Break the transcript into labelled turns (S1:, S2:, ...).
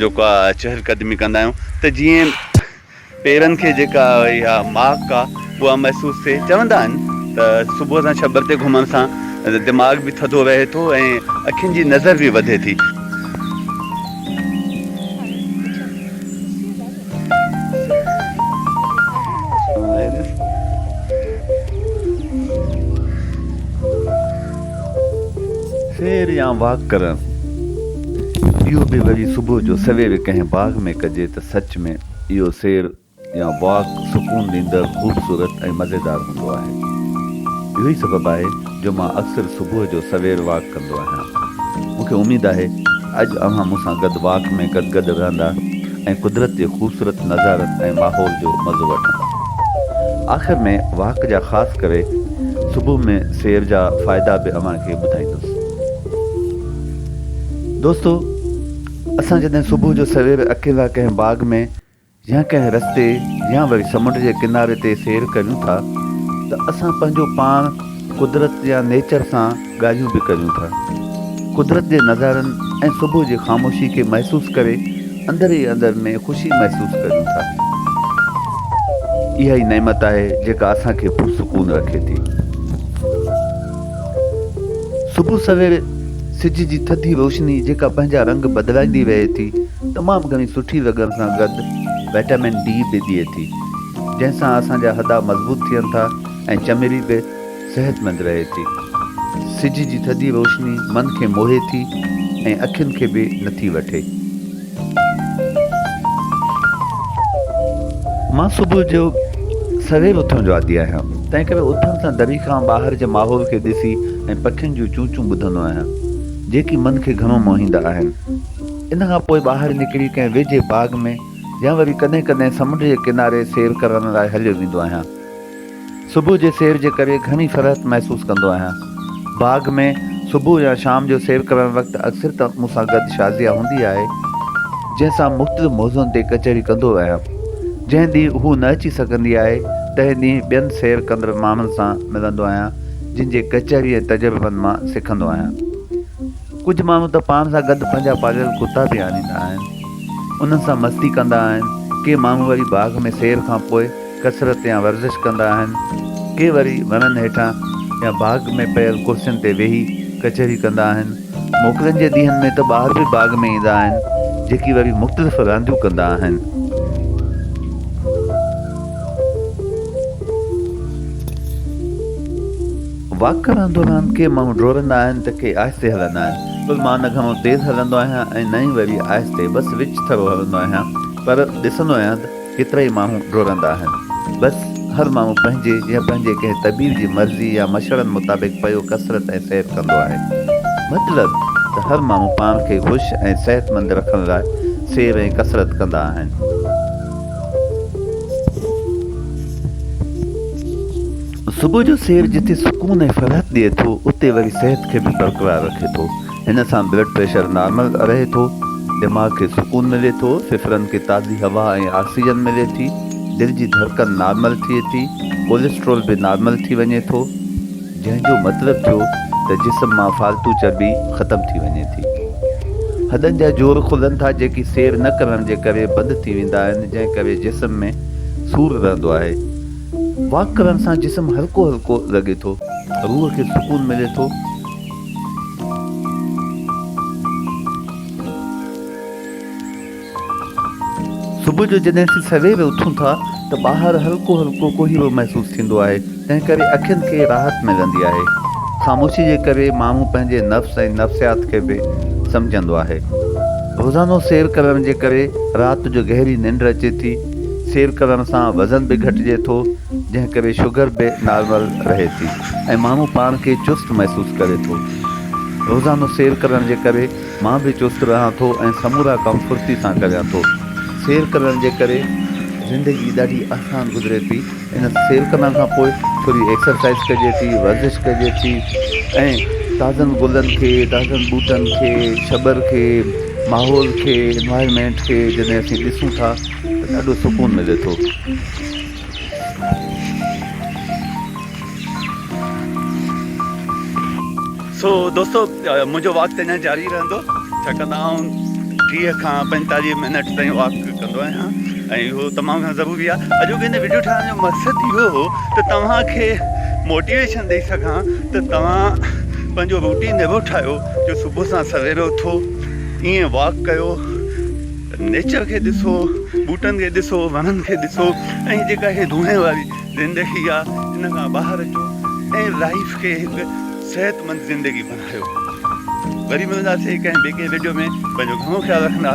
S1: جوڪا چهل قدمي ڪندا آهيون ته جيئن پيرن کي جيڪا اها ماڪ آهي اها محسوس ٿئي چوندا آهن ته صبح سان ڇٻر تي گهمڻ سان دماغ به ٿڌو رهي ٿو ۽ اکين جي نظر به وڌي ٿي. سير يا واڪ ڪرڻ اهو به وري صبح جو سوير ڪنهن باغ ۾ ڪجي ته سچ ۾ اهو سير يا واڪ سڪون ڏيندڙ خوبصورت ۽ مزيدار هوندو آهي اهو ئي سبب آهي جو مان اڪثر صبح جو سوير واڪ ڪندو آهيان. مون کي اميد آهي اڄ اوهان مون سان گڏ واڪ ۾ گڏ گڏ رهندا ۽ قدرت جي خوبصورت نظارن ۽ ماحول جو مزو وٺندا. آخر ۾ واڪ جا خاص ڪري صبح ۾ سير جا فائدا به اوهان کي ٻڌائيندس. دوستو اسان جڏهن صبح جو سوير اڪيلا ڪنهن باغ ۾. جنهن ڪنهن رستي يا وري سمنڊ جي ڪناري تي سير ڪريون ٿا ته اسان پنهنجو پاڻ قدرت يا نيچر سان ڳالهيون به ڪريون ٿا. قدرت جي نظارن ۽ صبح جي خاموشي کي محسوس ڪري اندر ئي اندر ۾ خوشي محسوس ڪريون ٿا. اها ئي نعمت آهي جيڪا اسان کي پرسڪون رکي ٿي. صبح سوير سج جي ٿڌي روشني جيڪا پنهنجا رنگ بدلائيندي رهي ٿي. تمام گهڻي سٺي وڳر سان گڏ وٽامن ڊي به ڏئي ٿي جنهن سان اسان جا هڏا مضبوط ٿين ٿا ۽ چمڙي به صحتمند رهي ٿي. سج جي ٿڌي روشني من کي موهي ٿي ۽ اکين کي به نٿي وٺي. مان صبح جو سوير اٿڻ جو عادي آهيان تنهن ڪري اٿڻ سان دري کان ٻاهر جي ماحول کي ڏسي ۽ پکين جون چونچون ٻڌندو آهيان جيڪي من کي گهڻو موهيندا آهن. ان کان پوء ٻاهر نڪري ڪنهن ويجهي باغ ۾ يا وري ڪڏهن ڪڏهن سمنڊ جي ڪناري سير ڪرڻ لاء هليو ويندو آهيان. صبح جي سير جي ڪري گهڻي فرحت محسوس ڪندو آهيان. باغ ۾ صبح يا شام جو سير ڪرڻ وقت اڪثر ته مون سان گڏ شازيه هوندي آهي، جنهن سان مختلف موضوعن تي ڪچهري ڪندو آهيان. جنهن ڏينهن هوء نه اچي سگهندي آهي، تنهن ڏينهن ٻين سير ڪندڙ ماڻهن سان ملندو آهيان، جن جي ڪچهري ۽ تجربن مان سکندو آهيان. ڪجهه ماڻهو ته پاڻ سان گڏ پنهنجا پاليل ڪتا به آڻيندا آهن. انهن سان مستي ڪندا آهن. ڪي ماڻهو وري باغ ۾ سير کان پوء ڪسرت يا ورزش ڪندا آهن. ڪي وري وڻن هيٺان يا باغ ۾ پيل ڪرسين تي ويهي ڪچهري ڪندا آهن. موڪلن جي ڏينهن ۾ ته ٻار به باغ ۾ ايندا آهن، جيڪي وري مختلف رانديون ڪندا آهن. واڪ ڪرڻ دوران ڪي ماڻهو ڊوڙندا آهن ته ڪي آهستي هلندا آهن پر مان نه گهڻو تيز هلندو آهيان ۽ نه ئي وري آهستي بس وچ ٿرو هلندو آهيان پر ڏسندو آهيان ته ڪيترائي ماڻهو ڊوڙندا آهن بس هر ماڻهو پنهنجي يا پنهنجي ڪنهن طبيب جي مرضي يا مشورن مطابق پيو ڪسرت ۽ سير ڪندو آهي مطلب ته هر ماڻهو پاڻ کي خوش ۽ صحتمند رکڻ لاء سير ۽ ڪسرت ڪندا آهن. صبح جو سير جتي سڪون ۽ فرحت ڏئي ٿو اتي وري صحت کي به برقرار رکي ٿو، هن سان بلڊ پريشر نارمل رهي ٿو، دماغ کي سڪون ملي ٿو، ڦڦرن کي تازي هوا ۽ آڪسيجن ملي ٿي، دل جي ڌڙڪن نارمل ٿئي ٿي، ڪوليسٽرول به نارمل ٿي وڃي ٿو، جنهن جو مطلب ٿيو ته جسم مان فالتو چرٻي ختم ٿي وڃي ٿي، هڏن جا جوڙ کلن ٿا جيڪي سير نه ڪرڻ جي ڪري بند ٿي ويندا آهن جنهن ڪري جسم ۾ سور رهندو آهي. واڪ ڪرڻ سان جسم هلڪو هلڪو لڳي ٿو. روح کي سڪون ملي ٿو. صبح جو جڏهن اسين سوير اٿون ٿا ته ٻاهر هلڪو هلڪو ڪوهيرو محسوس ٿيندو آهي تنهن ڪري اکين کي راحت ملندي آهي. خاموشي جي ڪري ماڻهو پنهنجي نفس ۽ نفسيات کي به سمجهندو آهي. روزانو سير ڪرڻ جي ڪري رات جو گهري ننڊ اچي ٿي. سير ڪرڻ سان وزن به گهٽجي ٿو جنهن ڪري شگر به نارمل رهي ٿي ۽ ماڻهو پاڻ کي چست محسوس ڪري ٿو. روزانو سير ڪرڻ جي ڪري مان به چست رهان ٿو ۽ سمورا ڪم ڦڙتي سان ڪريان ٿو. سير ڪرڻ جي ڪري زندگي ڏاڍي آسان گذري ٿي. ان سير ڪرڻ کان پوء ٿوري ايڪسرسائيز ڪجي ٿي، ورزش ڪجي ٿي ۽ تازن گلن کي، تازن ٻوٽن کي، ڇٻر کي، ماحول کي، Environment، کي جڏهن اسين ڏسون ٿا ته ڏاڍو سڪون ملي ٿو. سو دوستو منهنجو واڪ ته اڃان جاري رهندو ڇاڪاڻ ته آئون ٽيهه کان پنجتاليهه منٽ تائين واڪ ڪندو آهيان ۽ اهو تمام گهڻو ضروري آهي اڄوڪي هن ويڊيو ٺاهڻ جو مقصد اهو هو ته توهان کي موٽيويشن ڏيئي سگهان ته توهان پنهنجو روٽين اهو ٺاهيو جو صبح سان سوير اٿو ائين واڪ ڪيو نيچر کي ڏسو ٻوٽن کي ڏسو وڻن کي ڏسو ۽ جيڪا هي روحين واري زندگي آ ان کان ٻاهر اچو ۽ لائيف کي هڪ صحت مند زندگي بنايو وري ملنداسي ڪنهن ٻي ڪنهن ويڊيو ۾ پنهنجو گهڻو خيال رکندا